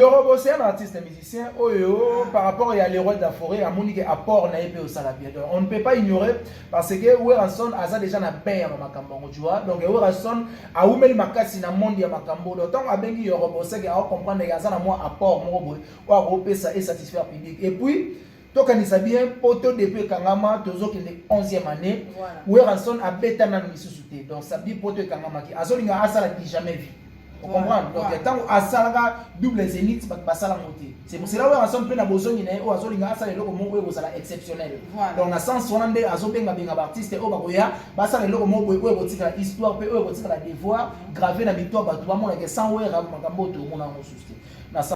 Yorobo c'est un artiste musicien oyo par rapport ya Leroy de la Forêt amoni ke apport na ye pe osala bien donc on ne peut pas ignorer parce que Werrason aza déjà na bain ya makambo yango tu vois donc Werrason awumeli makasi na monde ya makambo donc tant abengi Yorobo c'est que a comprendre ke aza na mwa apport moko boye oyo akopesa et satisfaire public et puis tokanisa bien poto depuis ekangama tozokende 11e année voilà. weranson abeta nano lisusu te donc sabi poto ekangamaki azolinga asala du jamais vie okomprendre donc ntango asalaka double zenit bato basala yango te c'est pour cela weranson mpe na bozongi na ye oyo azolinga asala eloko moko boye kozala exceptionnel donc na sens wana nde azobengabenga baartiste oyo bakoya basala eloko moko boye oyo ekotikala histoire mpe oyo ekotikala devoir grave na mito ya bato bamonake sans wera makambo oyo tokomona yango susu te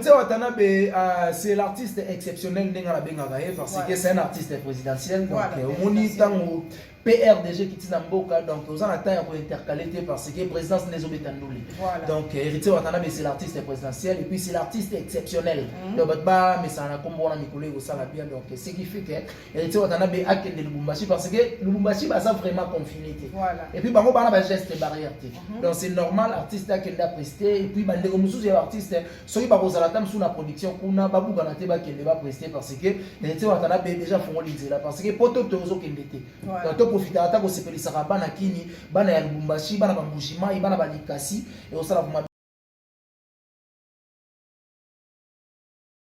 Tse Watanabe, euh, c'est l'artiste exceptionnel ndenge nabengaka ye parce que c'est un artiste présidentiel donc euh, omoni ntango PRDG qui tina mboka donc oza na temps ya kointercale te parce que présidence nde ezobeta ndule donc euh, héritier Watanabe c'est l'artiste présidentiel et puis c'est l'artiste exceptionnel mm. donc bato bamesana na nkombo wana mikolo ekosala bien donc ce qui fait que ete watanabe akende lubumbashi parce que lubumbashi baza vraiment confine te et puis bango bana bageste barrière te mhm. donc c'est normal artiste akende apreste et puis bandeko mosusu ya artiste soki bakozala ata mosusu na production kuna babukana te bakende bapreste parce que ete watanabe déjà afongoli nzela parce que poto te ozokende te donc toprofitaka ata kosepelisaka bana kini bana ya lubumbashi bana bambujimai bana balikasi ekosala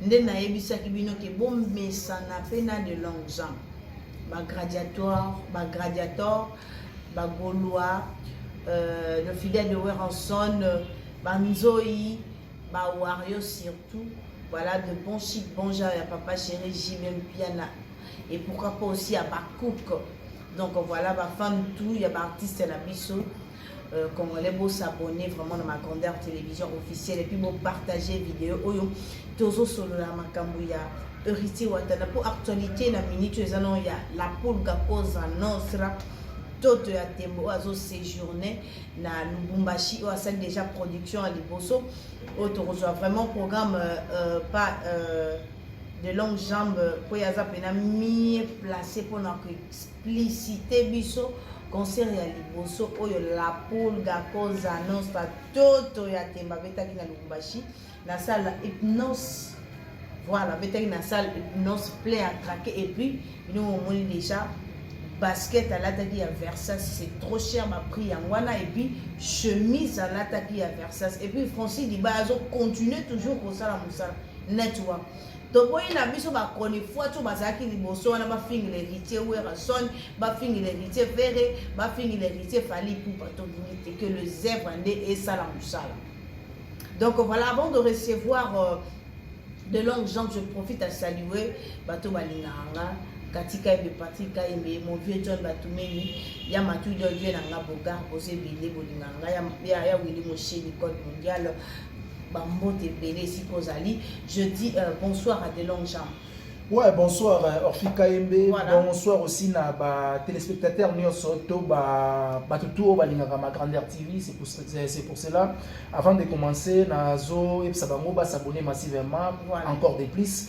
Nde nayebisaki bino ke bomesana pe na de longues ans. Ba gradiatoire, ba gradiator, ba golois, euh, le fidèle de Weranson, ba nzoyi, ba wario surtout. Voilà de bons chic, bons gens ya papa chéri JBM Piana. Et pourquoi pas aussi à Bakouk. Donc voilà, ba fans tout, ya ba artistes na biso. Euh, congolais bo s'abonner vraiment na ma grandeur télévision officielle et puis bo partager vidéo oyo tozo solola makambo ya héritier watana mpo actualité na minute oyo eza nao ya la pulga cosa nostra toto ya tembo oyo azo séjourne na lubumbashi oyo asali déjà production ya liboso oyo tokozwa vraiment programme euh, euh, pas euh, de longue jambe mpo ye aza mpena mie place mpona licite biso concert ya liboso oyo la pulga cosa nostra toto ya temba abetaki na lubumbashi na sala hypnose voilà abetaki na sala hypnose plein ya traque et puis bino momoni déjà basket alataki ya versas c'est trop cher baprix yango wana et puis chemise alataki ya versas et puis francis liba azocontinue toujours kosala mosala network toboyi na biso ba chronifuati oyo bazalaki liboso wana bafingila héritier werrason bafingila héritier ferre bafingila héritier fali pupa tolingi te que le zèbre nde esala mosala donc voilà avant de recevoir euh, de longue jambe je profite à saluer bato balingaka nga katika ebe patrik kayembe mon vieux john batumeli ya matudo vieux na nga bogar boza ebele bolingaka nga ya wili mosheni code mondial bambote ebele esika ozali je dis euh, bonsoir à de longue jam ouais bonsoir euh, orphi kayembe voilà. bonsoir aussi na batéléspectateurs nyonso to bato tu oyo balingaka ma grandeur tv c'est pour, pour cela avant de commencer nazoyebisa bango basabone massivement voilà. encore de plus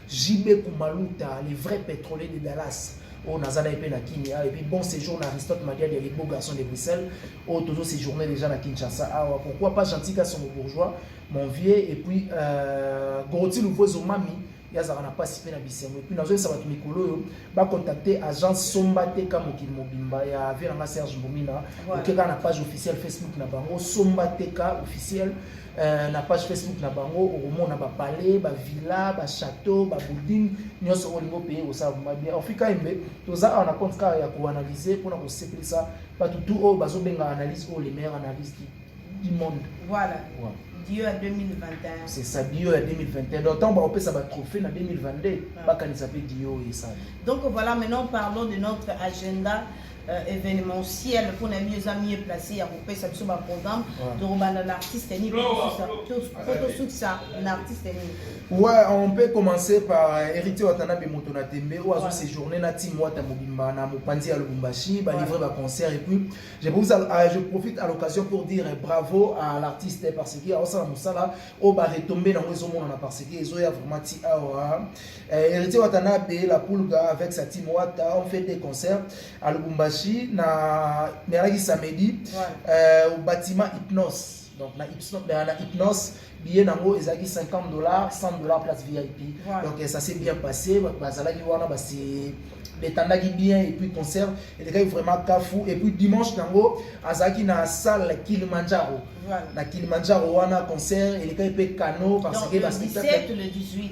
JB Kumaluta, le vrai pétrolier de Dallas. oyo naza na ye mpe na kini awa epuis bon séjour na aristote madiadi ya ligbo garçon de bruxelles oyo oh, tozo séjourne déjà na kinshasa awa ah, pourquoi pas gentil kasongo bourgeois mon vieux epuis euh, goroti louvo ezomami ye azalaka na mpasi mpe na bisengo epuis nazoyesa bato mikolo oyo bacontacte agence somba teka mokili mobimba ya vie nanga serge mbomina okeka na page officielle facebook na bango somba teka officielle Euh, na page facebook na bango okomona bapalais bavilla bachateau babuilding nyonso oyo olingi opeye kosala vrima bien afrika embe toza awa na compte kaka ya koanalyse mpona kosepelisa bato tu oyo bazobenga analyse oyo le meilleur analyse du monde voilà ouais. dio ya 2021 c'est ça dio ya 2021 donc ntango bakopesa batrophée na 2022 bakanisa mpe dio oyo esala donc voilà maintenant parlons de notre agenda euh, événementiel mpo na bino eza mieux place ya kopesa biso baprogramme tokobanda na artiste nini mpo tosukisa na artiste nini ouais on peut commencer par euh, héritier watanabe moto na tembe oyo azo séjourne na team wata mobimba na mopanzi ya lubumbashi balivre baconcert et puis je, vous, euh, je profite à l'occasion pour dire euh, bravo à l'artiste parce que aosala mosala oyo baretombé nango ezomonana parce que ezoya vraiment ti awa Eh, Héritier Watanabe, la Pulga avec sa team Wata, on fait des concerts à Lubumbashi, na Meraki samedi, ouais. euh, au bâtiment Hypnos. Donc, na Hypnos, na, na Hypnos billet nango ezalaki 50 dollars 100 dollars place vip ouais. donc eh, ça s'est bien passé bazalaki wana basi betandaki bien et puis concert elekaki vraiment kafu et puis dimanche nango azalaki na salle kilimanjaro voilà. na kilimanjaro wana concert elekaki mpe cano parce que baspectacle le 18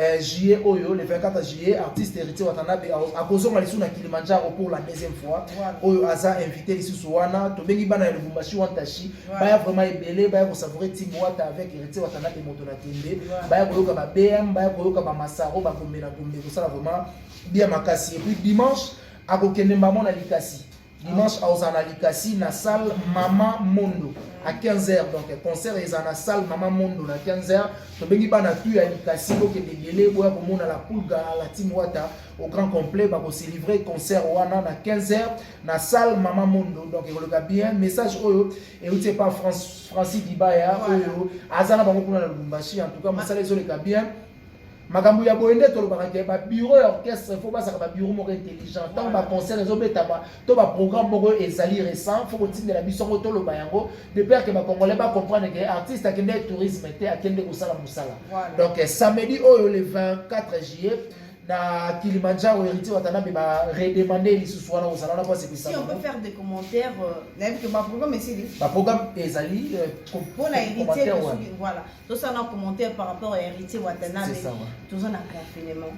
Eh, juillet oyo le 24 juillet artiste héritier watanabe akozonga lisusu na kilimanjaro pour la deuxième fois oyo aza invité lisusu wana tobengi bana ya lubumbashi wantashi baya vraiment ebele baya kosavoure timbo wata avec héritier watanabe moto na kende baya koyoka ba bm baya koyoka ba masaro bagombe na gombe kosala vraiment bien makasi et puis dimanche akokende mbamo na likasi dimanche akozala na likasi na salle mama mondo à 15h donc concert eza na salle mama mondo na 15h tobengi bana tu ya likasi bokende ebele boya komona la pulga la team wata au grand complet bakoselivre concert wana na 15h na salle mama mondo donc ekoleka bien message oyo euti epa francis dibaya oyo aza na bango kuna na lubumbashi en tout cas mosala ezoleka bien makambo ya boye nde tolobaka ke babiro ya orchestre fo bazalaka babiro moko intelligent ntango baconcert ezobetama to baprogramme moko ezali récent fo kotindela biso yango toloba yango de père ke bacongolais bacomprendre ke artiste akende tourisme te akende kosala mosala donc samedi oyo le 24 juillet na Kilimanjaro héritier Watanabe ba redemander lisusu wana kozala wana pasi bisa. Si on peut faire des commentaires euh, na yebi que ba programme esili. Ba programme ezali euh, pona héritier voilà. tosala na commentaire par rapport ya héritier watanabe toza na confinement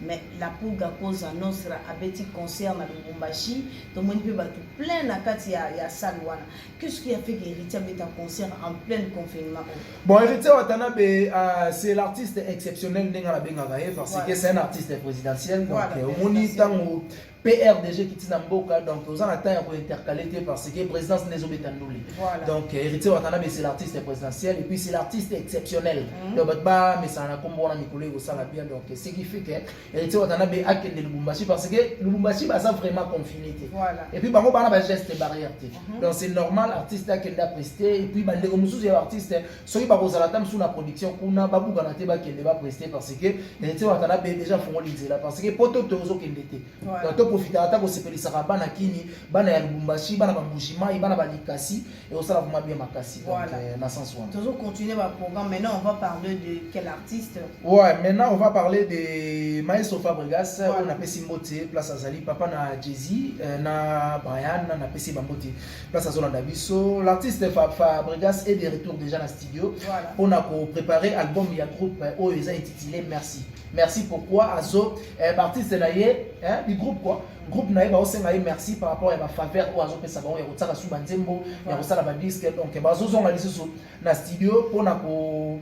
mais la pulga cosa nostra abeti concert na lubumbashi tomoni mpe bato plein na kati ya, ya salle wana qu'est-ce qui a fait que héritier abeta concert en plein confinement bon héritier watanabe uh, c'est l'artiste exceptionnel ndenge nabengaka ye parce que c'est un artiste présidentiel donc omoni ntango PRDG qui tina mboka donc oza na temps ya ko intercaler te parce que présidence ndezo beta ndule. Voilà. Donc euh, héritier Watanabe c'est l'artiste présidentiel et puis c'est l'artiste exceptionnel. Mm -hmm. Donc ba mais ça na kombo wana mikolo ko sala bien donc ce qui fait que héritier Watanabe a kende Lubumbashi parce que Lubumbashi baza vraiment confiné te. Voilà. Et puis bango bana ba geste barrière te. Mm -hmm. Donc c'est normal artiste a kende prester et puis bande ko mususu ya artiste soki bakozala ata mosusu na production kuna babukana te bakende bapreste parce que neti watala mpe déjà afongoli nzela parce que poto te ozokende te donc toprofitaka ata kosepelisaka bana kini bana ya lubumbashi bana bambujimai bana balikasi ekosala vraimen bien makasi donc euh, na sens wana tozo continuer baprogramme maintenant on va parler de quel artiste ouais maintenant on va parler de maestro fabrigas oyo napesi mbote place azali papa na jesi euh, na brian napesi bambote place azolanda biso l'artiste fabrigas est de retour déjà na studio mpona koprépare album ya groupe eh, oyo eza intitulé merci merci pourquoi azo eh, baartiste na ye eh, bigroupe quoi groupe na ye baosenga ye merci par rapport ya bafaveur oyo azopesa bango ya kotiaka su banzembo ya kosala badisque donc bazozonga lisusu na studio mpona ko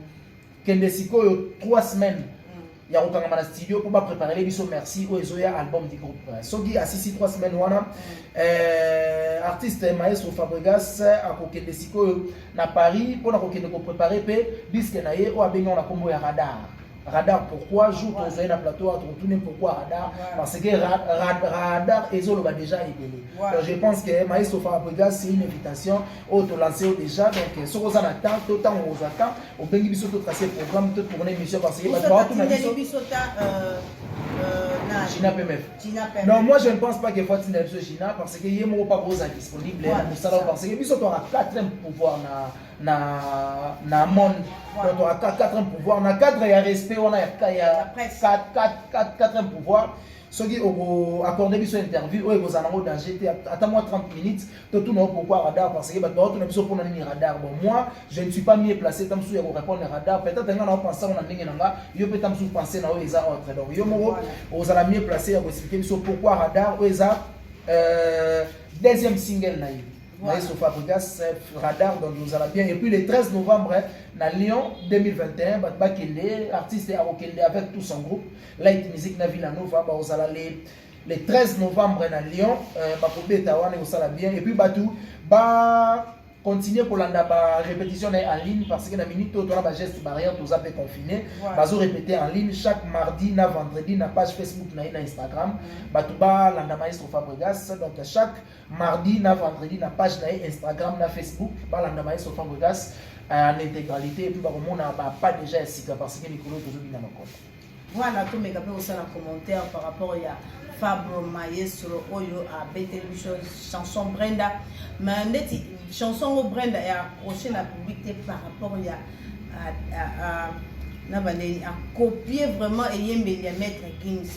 kende sikoyo 3 semaines ya kokangama na studio mpo bapreparele biso merci oyo ezoya album du groupe soki asisi 3 semaine wana euh, artiste maestro fabregas akokende sikoyo na paris mpo na kokende koprepare mpe diske na ye oyo abengao na nkombo ya radar radar pourquoi jour tozali na plateau tokotuni pourquoi radar parce que radar ezoloba déjà ebele donc je pense que maestro fabregas c'est une invitation oyo tolanse yo déjà donc euh, soki oza na temps to ntango okozwa temps obengi biso to trace programme to tourne émission parce que bato baotuna biso euh, euh, Gina PMF. Non, moi je ne pense pas que faut tinda biso Gina parce que ye moko pas boza disponible na mosala parce que biso toka quatrième pouvoir na na na monde donc toka quatrième pouvoir na cadre ya respect wana ya ya quatrième pouvoir soki oko accorde biso interview oyo ekozala nango danger te ata mwa 30 minutes totuna yo pourquoi radar parce que bato baotuna biso mpona nini radar bon moi je ne suis pas mieux placé ta mosusu ya korépondre na radar peut-être nga nao pense yango na ndenge na nga yo mpe ta mosusu pense na oyo eza autre donc yo moko ozala mieux placé ya koexplike biso pourquoi radar oyo eza euh, deuxième single na ye voilà. naye sofa africas radar donc ozala bien et puis le 13 novembre na lyon 2021 bato bakende artiste akokende avec tout son groupe light musique na villanova baozala le le 13 novembre na Lyon euh, bakobeta wana ekosala bien et puis bato ba continuer kolanda ba répétition na ye en ligne parce que na minute oyo tona ba geste barrière toza mpe confine Voilà. bazo répéter en ligne chaque mardi na vendredi na page facebook na ye na instagram bato balanda maestro fabregas donc chaque mardi na vendredi na page na ye instagram na facebook balanda maestro fabregas euh, en intégralité et puis bakomona ba pas déjà ya sika parce que likolo tozobina makolo Voilà, tomeka mpe kosala commentaire par rapport ya Fabro Maestro oyo abeteli biso chanson Brenda mais ndeti chanson ngo Brenda ya accroche na public te par rapport ya na baleli akopie vraiment eyembeli ya maître Gims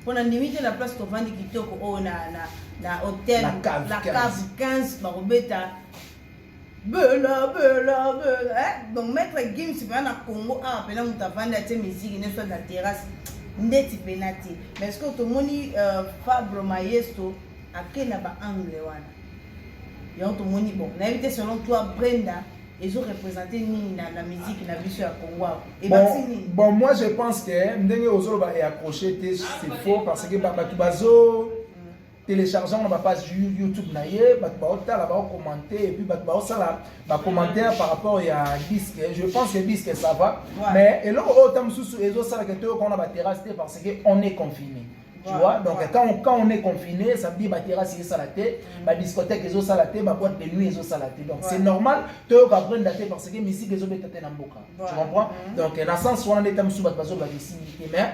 mpo na ndimi te na place tovandi kitoko oyo na, na, na hotel la cave 15 bakobeta bela bela bela eh? donc maître gims mpena na congo awa mpena moto avandi atie miziki nde soit na terrasse ndeti mpena te mais ce que tomoni euh, fabre mayesto ake na baangle wana yango tomoni bon nayebi te selon toi brenda ezo représente nini na, na musique na biso ya congo awa ebakisi nini bon moi je pense que ndenge ozoloba eaccroche te c'est faux parce que bato bazo telecharge yango na bapage youtube na ye bato baotala baocommente epuis bato baosala bacommentaire par rapport ya disque je pense que disque ça va mais eloko oyo ta mosusu ezosalaka toyoka wana baterrasse te parce que on est confiné tu vois donc quand on, quand on est confiné ça veut dire baterrasse ezosala te mm. badiscothèque ezosala te baboite de nuit ezosala te donc c'est normal toyoka brenda te parce que misike ezobeta te na mboka tu comprends mm. donc na sens wana nde ta mosusu bato bazobakisimi te mais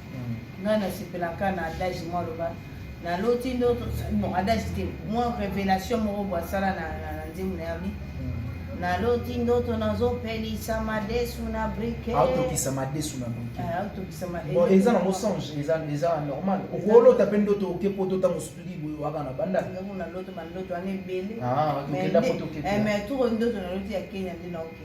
nga nasepelaka na adage mwa loba naloti ndo bon adage te mwa révélation moko bo asala na nzembo na yabi mm. naloti ndoto nazopelisa madesu na brikeaotokisa ah, madesu na brikeaotokisamaon ah, eza na mosange eza normal okolota mpe ndoto oke poto ntango osutuli boye waka na bandaknaloto bandoto wana ebele ah, mais tour ndoto naloti ya kenya nde naoke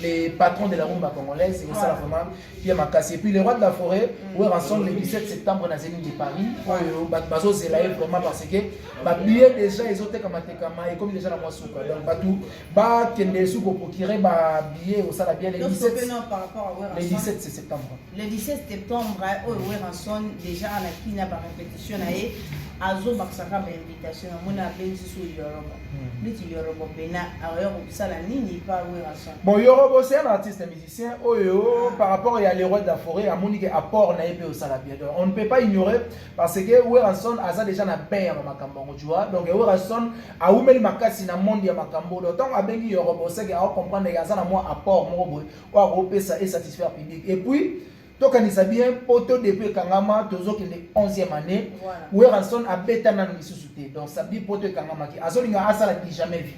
les patrons de la rumba congolaise et ça vraiment bien makasi et puis les rois de la forêt mm. were ensemble le 17 septembre na zénith de paris oyo bato bazozela ye vraiment parce que babillet déjà ezotekama tekama ekomi déjà na mwa suka donc bato bakende esu koprocure babillet osala bien le 17 le 17 septembre le 17 septembre oyo weranson déjà alaki na barépétition na ye azobakisaka Tasho na mona abenzi su Yorobo. Neti Yorobo pena aoya kosala nini pa Werrason. Bon Yorobo c'est un artiste un musicien oyo oh, ah. par rapport ya l'héros de la forêt amoni ke apport na ye pe osala bien. Donc on ne peut pas ignorer parce que Werrason aza déjà na bain ya makambo ngo tu vois. Donc Werrason awumeli makasi na monde ya makambo. Donc tant abengi Yorobo c'est que a comprendre ya aza na mwa apport moko boye oyo akopesa et satisfaire public. Et puis tokanisa bien poto depuis ekangama tozokende 11e année werrason abeta nanu lisusu te donc sabi poto ekangamaki azolinga asala du jamais vie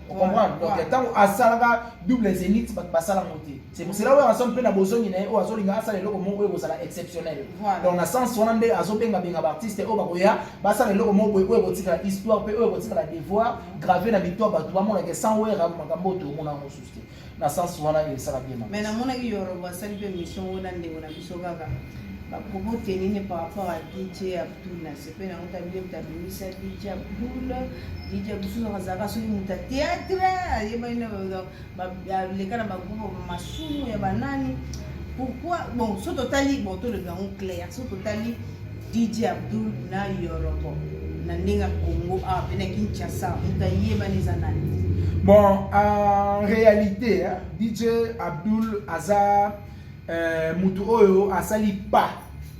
okomprendre donc ntango asalaka double zenit bato basala yango te c'est pour cela werrason mpe na bozongi na ye oyo azolinga asala eloko moko oyo ekozala exceptionnel donc na sens wana nde azobengabenga baartiste oyo bakoya basala eloko moko boye oyo ekotikala histoire mpe oyo ekotikala devoir grave na mito ya bato bamonake sans wera makambo oyo tokomona yango mosusu te na sens wana esala bien mais namonaki yorobo asali mpe mission oyo na ndeko na biso kaka bapropo tenini par rapport à dj abdul na sepe na yango tabile moto abimisa dj abdul dj abdul azalaka soki moto ya théâtre ayebani na aleka na bagroupe masumu ya banani pourquoi bon so totali bon tolobi yango claire so totali DJ Abdul na Yorobo na ndenge Congo a ah, pena Kinshasa moto ayebani eza nani bon en réalité hein, DJ Abdul aza euh, moto oyo asali pas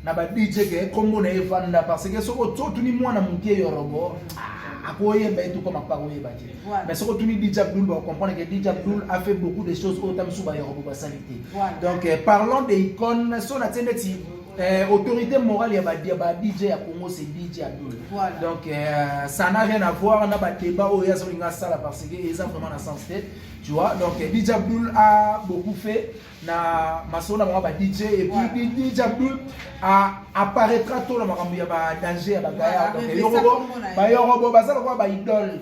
na ba DJ ke kombo na evanda parce que soko totuni mwana moke Yorobo ah, akoyeba etu koma pa koyeba te mais soko tuni DJ Abdul ba comprendre que DJ Abdul a fait beaucoup de choses oyo tamisuba Yorobo basali te donc euh, parlons des icônes so na tiendeti Eh, autorité morale ya ba, ba DJ ya Congo c'est DJ Abdul. Voilà. Donc euh, ça n'a rien à voir na ba débat oyo yazo linga sala parce que eza vraiment na sens te. Tu vois? Donc euh, DJ Abdul a beaucoup fait na masolo na ba DJ et puis voilà. DJ Abdul a apparaîtra tout na makambo ya ba danger ya ba gaya. Donc yorobo ba yorobo bazala quoi ba idole.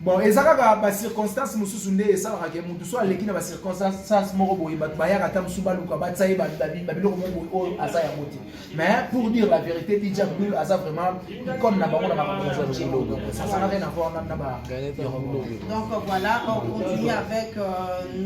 bon eza kaka ba circonstances mosusu nde esalaka ke motu so aleki na ba circonstances moko boye bato bayaka ata mosusu baluka batya ye babiloko moko boye oyo aza yango te mais pour dire la vérité dija brul aza vraiment comme na bango na makamboasana rien avoir na ba donc voilà on continue avec euh,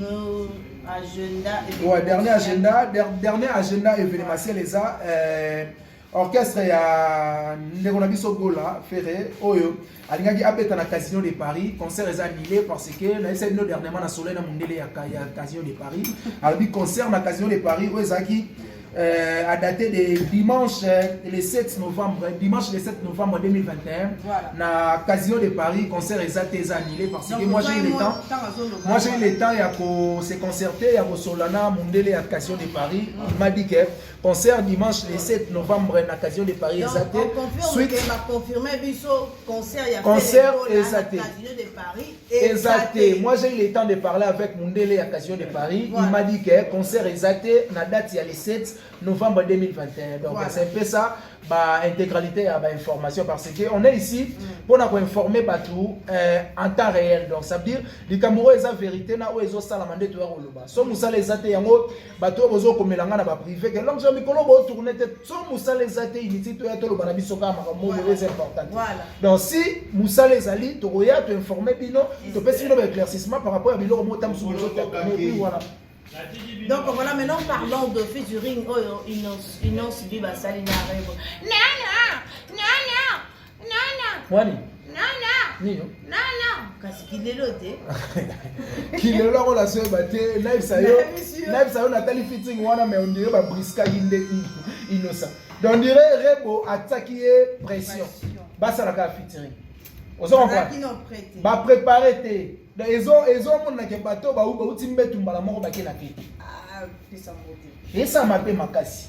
nos agenda ouais, dernier agenda dernier agenda événementiel eza euh, orchestre ya ndeko na biso gola ferre oyo alingaki abeta na casino de paris concert eza annulé parce que nayebisa bino dernièrement na soleil na mondele ya, ya casino de paris alobi concert na casino de paris oyo ezalaki euh, à dater de dimanche euh, le 7 novembre dimanche le 7 novembre 2021 voilà. na casino de paris concert eza te eza annulé parce Donc, que moi j'ai eu le temps moi j'ai eu le temps ya ko se concerter ya kosola na mondele ya casino de paris mm. il m'a dit que concert dimanche le 7 novembre na casino de paris eza te concert eza te eza te moi j'ai eu le temps de parler avec mundele ya casino de paris il m'a dit que concert eza te na date ya le 7 novembre 2021 donc c'est un peu ça ba intégralité ya ba information parce que on est ici mm. mpona koinforme bato euh, en temps réel donc ça veut dire likambo oyo eza vérité na oyo ezosalama nde toya koloba so mosala eza te yango bato oyo bozokomela ngai na baprive ke lonso mikolo botourne te so mosala eza te initi toya toloba na biso kaka makambo moko eza important donc si mosala ezali tokoya toinforme bino topesi bino baéclaircissement par rapport ya biloko moko ta mosusu bozotapi wana donc voilà maintenant parlons de featuring oyo inonce bi basali na revo nana nana Mwani. Nino. kasi kilelo te kilelo yango nazoyeba te nayebisa yo nayebisa yo natali fiting wana mai ondire babriskaki nde inosa donc ondire rebo atiaki ye pression basalaka fitiring ozo comprendre baprépare te donc ezomonanake bato oyo bau bauti mbetu mbala moko bakela te ah, esama te makasi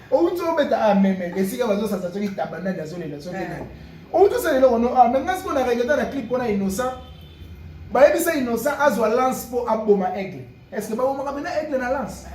outi obeta ah, meme esika bazosasa soki taba nani azolela soki eh. nani outi osala eloko no ah, meme nasi mpo na regreta na clip mpona innocent bayebisa innocent azwa lance mpo aboma aigle est ce que babomaka mpena aigle na lance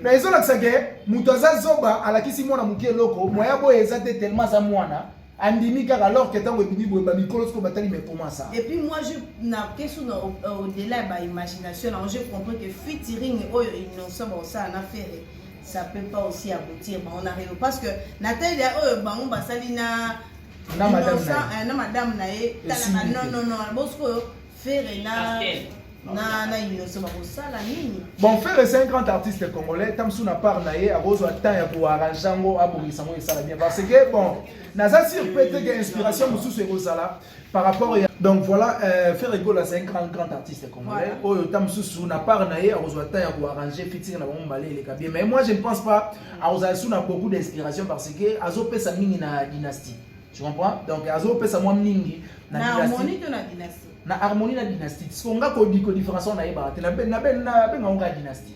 na ezolakisa ke moto aza zoba alakisi mwana moke eloko moya boye eza te tellement aza mwana andimi kaka alors que ntango ebimi boye bamikolo soko batali mais comment ça et puis moi je na question na au-delà ya baimagination nango je comprends que featuring oyo innocent baosala na ferre ça peut pas aussi aboutir bango na reo parce que na taille ya oyo bango basali na na madame na ye na madame na ye tala ba non non non bosikoyo fere na na na inoso bakosala nini bon fere c'est un grand artiste congolais ta mosusu na part na ye akozwa temps ya koarrange yango abongisa yango esala bien parce que bon naza sur pe te ke inspiration mosusu ekozala par rapport ya donc voilà euh, Ferre Gola c'est un grand grand artiste congolais oyo ta mususu na part na ye akozwa temps ya koarranger fitting na bango mbale eleka bien mais moi je ne pense pas akozala su na beaucoup d'inspiration parce que azopesa mingi na dynastie tu comprends donc azopesa mwa mingi na harmonie to na dynastie na harmonie na dynastie parce que nga ko différence na ye ba te na ben na ben na ben nga dynastie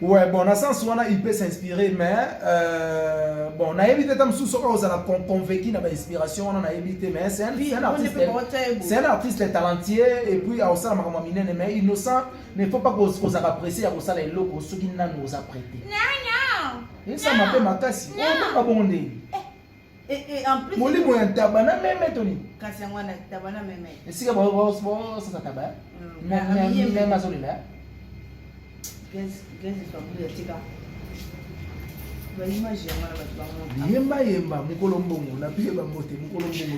Ouais, bon, na sens wana il peut s'inspirer mais euh, bon, na évité ta mususu oyo ozala con convaincu na ba inspiration wana na évité mais c'est un, c'est un artiste c'est un artiste talentueux et puis aosala makambo minene mais innocent ne faut pas kozala apprécier ya kosala eloko soki nanu oza prêté. Non non. Esa mabe makasi. Oyo oh, bongo ndenge. molimo ya ntaba na meme to nini kasi yango wana ntaba na meme esika bosasa taba meme azolela yemba yemba mokolo mbongo na pile bambote mokolo mbongo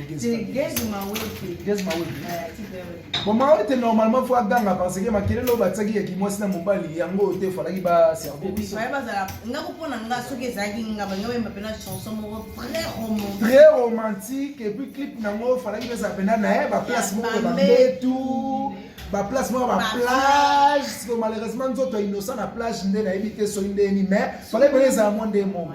Bon, Maote, normalement, il faut aganga parce que makelele oyo batiaki ya kimwasi na mobali yango oyo te falaki baserve biso très romantique et puis clip nango falaki peza mpena na ye baplace moko bambetu baplace moko baplage siko malheureusement nzoto ya innocent na plage nde nayebi te soki ndeni mais falaki pena ezala mwa nde moko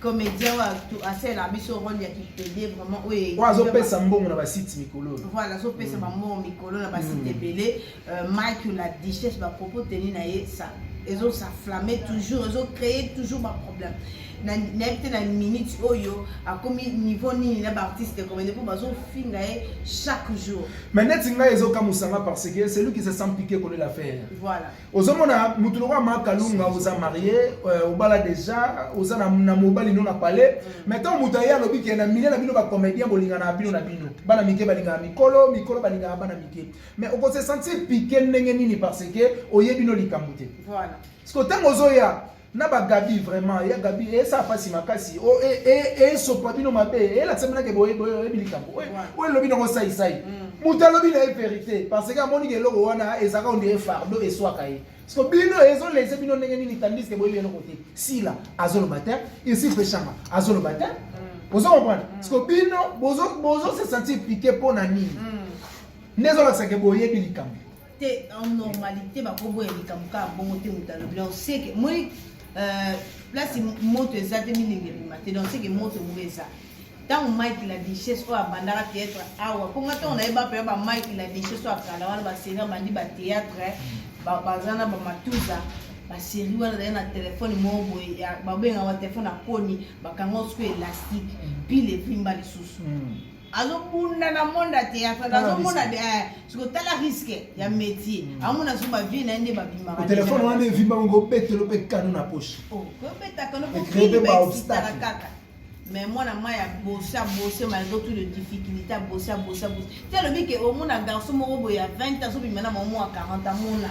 comedien wa tu asela biso role ya kipede vraiment oye oyo azopesa mbongo na basite mikolo voilà azopesa bambongo mm. mikolo na basite mm. ebele euh, mike la dichesse bapropos teni na ye sa ezo sa flamme toujours ezo créer toujours baproblème nayebi te na minute oyo akomi niveau nini na baartiste comédie mpo bazofinga ye chaque jour mais neti ngai ezokamusa nga parce que celui qui se sent piqué kolela faire voilà ozomona motu lokola ma kalunga oza marie euh, obala deja oza na, na mobali no na palais mm. mais ntango moto aye alobi ke na milie na bino bacomédien bolingana bino na bino bana mike balingaka mikolo mikolo balingaka bana mike mais okose sentir pike ndenge nini parce que oye bino likambo te voilà. siko ntango ozoya na ba Gabi vraiment ya Gabi e sa pasi makasi o e e e so pa bino mabe e la tsemena ke boye boye e bilika ko o lobi na ko sai sai muta lobi na e verite parce que amoni ke logo wana e zaka on dirait fardeau e soit kai parce que bino e zo laisser bino ndenge nini tandis que boye bino kote sila azo le matin ici peshanga azo le matin ozo comprendre parce que bino bozo bozo se sentir piqué pona nini ndezo la sake boye bilika te en normalité bakoboya likambo kaka bongo te moto alobi donc seke moi euh, place moto eza te milingi ebima te donc seke moto moko eza ntango mike la duchesse oyo abandaka théâtre awa mpo nga ntango nayeba mpenza ba mike la duchesse oyo akala wana baseri abandi bathéâtre baza na bamatuza baseri wana ezali na telefone moko boye babengaka telefone ya koni bakanga osuku elastique pile evimba lisusu mm. azobunda na monde ya théâtre nazomona eh, siko tala risque ya métier mm. amona so bavie na ye nde babimakatelefone wana evimba ngo obetelo mpe kano na poche oh, obetaka nokokiibaobstaka kaka mais mwana mai ya bosi abosi malgré tout le difficulté abosi abosi abosi te alobi ke omona garçon moko boye ya 20 ans azobima na mamo ya 40 amona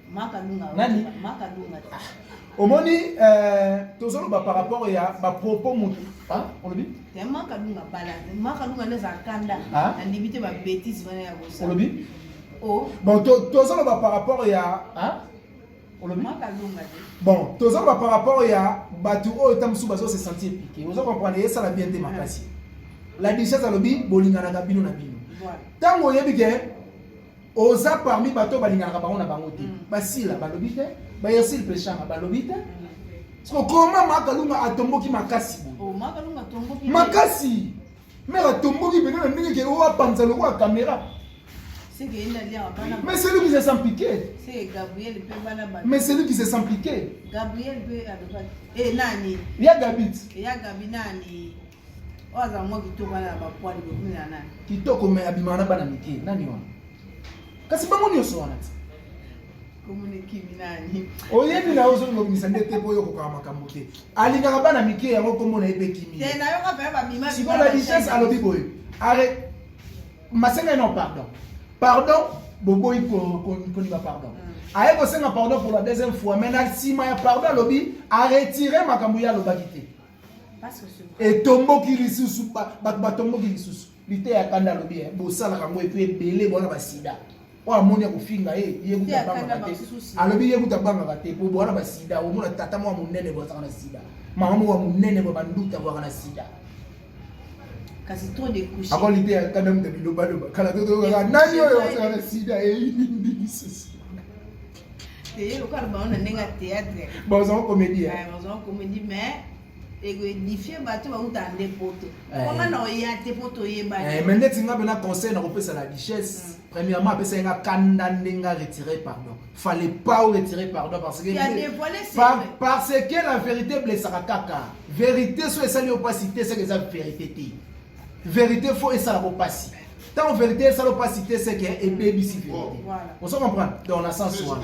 nani omoni euh, tozoloba par rapport ya bapropos motu olobi olobi bon tozoloba par rapport ya olobi bon tozoloba par rapport ya bato oyo ta mosusu bazo se sentir piqué ozo comprendre esala bien te makasi la dichesse alobi bolinganaka bino na bino ntango oyebi ke oza parmi bato oyo balinganaka bango na bango te mm. basila balobi te bayersile peshanga balobi te mm. siko koma makalunga atomboki makasi oh, makasi mere atomboki pene na ndenge ke oyo apanza lokola kamera Mais celui qui se sent piqué. C'est Gabriel peut pas Mais celui qui se sent piqué. Gabriel peut. Et Nani. Il y a Gabit. Il y a Gabi Nani. Oyo aza mwa kitoko wana na bapwani bokumela nani? Kitoko me abimaka na bana mike nani wana? Kasi bango nyonso wana ti. Komona ekimi nani? Oyebi na ozo ngobimisa nde te boyo kokaka makambo te. Alingaka bana mike yango komona ye pe kimi. Te na yoka pe ba bima. Siko la richesse alobi boye. Are masenga non pardon. Pardon boboyi ko ko ko ni ba pardon. Mm. aye kosenga pardon pour la deuxième fois mais na nsima ya pardon alobi aretire makambo ye alobaki te etomboki lisusu bato batomboki lisusu liteya kanda alobi eh, bosalaka yango epe ebele bwana basida oyo amoni ya kofinga ye yekutabangaka te alobi yekutabangaka te po bwana basida omona tata mwa monene bwazaka na sida mama moko ya monene bwa banduta bwaka na sida kasi trop de couche ako liteya kanda moto bilobaloba kala totokaka nani oyo azaka na sida eyini ndingisusu Teye lokola bango na ndenge ya théâtre. Bazango comédie. Ouais, bazango comédie mais ekoedifie bato bauta nde poto koma na oya te po toyebani me ndeti nga mpena conseil na kopesa la richesse mm. premièrement apesaki nga kanda nde nga retire pardon fallait pas retire pardon parce que par, parce que la vérité blessaka kaka vérité so esali yo mpasi te seke eza vérité te vérité fo esalaka mpasi Tant vérité est salo pas cité c'est que et baby si vérité. On se comprend dans la sens soin.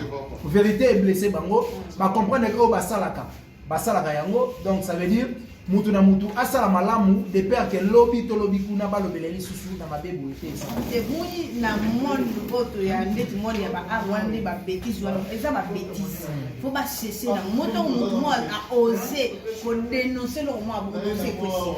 Vérité est blessé bango, ba comprendre que ba salaka. Ba salaka yango donc ça veut dire mutu na mutu asala malamu de père que lobi to lobi kuna ba lobele lisusu na mabe boye te ça. Et boni na monde auto ya ndeti monde ya ba arwande ba bêtises wana eza ba bêtises. Faut ba cesser na moto mutu mo a oser ko dénoncer le mo a bongo c'est possible.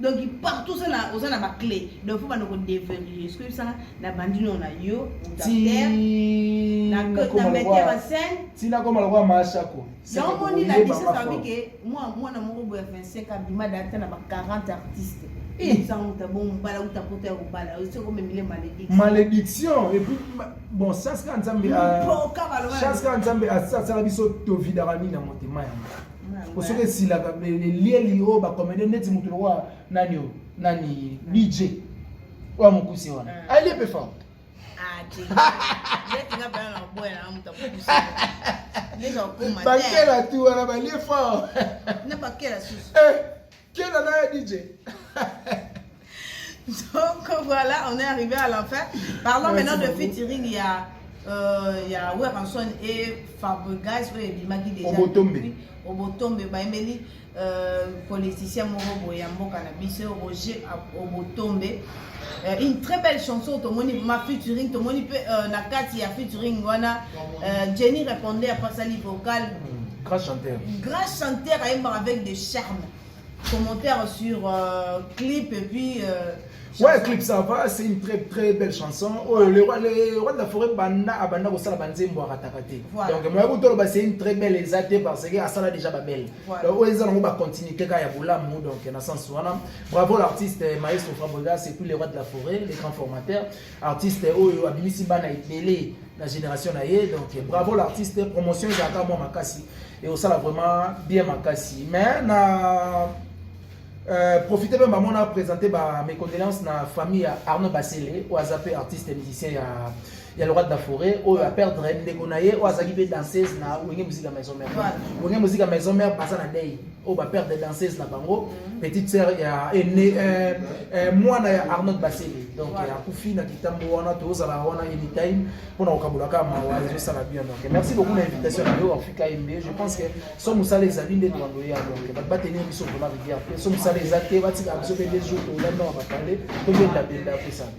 donc partout oza na oza na ba clé donc faut bana ko deverrouiller ce que bisanga na bandi no na yo na mete ba scène tina koma lokola mashako yango moni la dise sabi ke mwa mwana moko boya 25 abima data na ba 40 artistes malédiction epuis bon chaske nzambe chaske nzambe asala biso tovidaka nini na motema yango po soki esilaka elieli oyo bakomede neti motu lokola nani oyo nani dj oyo mokuse wana ah. alie mpe fort bakela tu wana balie fort Kena na ye DJ. Donc voilà, on est arrivé à la fin. Parlons Merci maintenant beaucoup. de featuring, il y a euh, il y a Werranson et Fabregas oyo ebimaki déjà Obotombe. Obotombe bayembeli euh, politicien moko boye ya mboka na biso Roger Obotombe Euh, une très belle chanson tomoni ma featuring tomoni mpe euh, na kati ya featuring wana euh, jenny répondait apasali vocal hmm, grand chanteur grand chanteur ayembaka avec de charme commentaire sur euh, clip et puis euh, Ouais, clip ça va, c'est une très très belle chanson. Oh, le roi le roi de la forêt banda abanda ko sala banze mbo arataka te. Donc moi ko tolo ba c'est une très belle exacte parce que asala déjà ba belle. Donc oyo ezala ngo ba continuité ka ya bolamu donc na sens wana Bravo l'artiste eh, maestro Fabrigas, c'est tout les rois de la forêt, les grands formateurs. Artiste eh, oyo abimisi bana ebele na génération na ye. Donc eh, bravo l'artiste, promotion ezalaka mwa makasi et osala vraiment bien makasi. Mais na euh, profiter mpe bango na présenter ba mes condoléances na famille ya Arnaud Basele oyo aza mpe artiste musicien ya ya le roi de la forêt oyo a perdre ndeko na ye oyo azalaki mpe danseuse na wenge muzika maison mère wenge muzika maison mère baza na dei oyo ba perdre danseuse na bango mm. petite sœur ya ene euh, euh, mwana ya arnold basele donc akufi na kitambo wana tozala wana anytime mpona kokabolaka mawa ezosala bien donc merci beaucoup na invitation na yo afrika mb je pense que so mosala ezali nde tolando ya donc bato batenir biso vraimen rivière te so mosala eza te batika biso mpe des jours tolanda na bapale tobenda benda apesana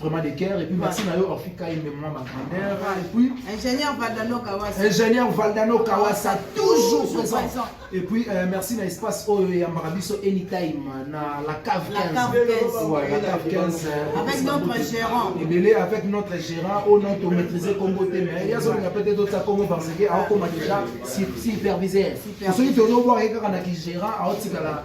vraiment de cœur et puis merci na yo Orphi Kai mais moi ma grandeur et puis ingénieur Valdano Kawasa ingénieur Valdano Kawasa toujours présent et puis euh, merci na espace oyo ya Marabiso anytime na la cave 15 la cave 15 ouais, la cave 15 euh, avec notre gérant et belé avec notre gérant au nom to maîtriser Congo te mais ya zo nga peut-être d'autres Congo parce que a koma déjà superviseur soki to no voir kaka na ki gérant a otikala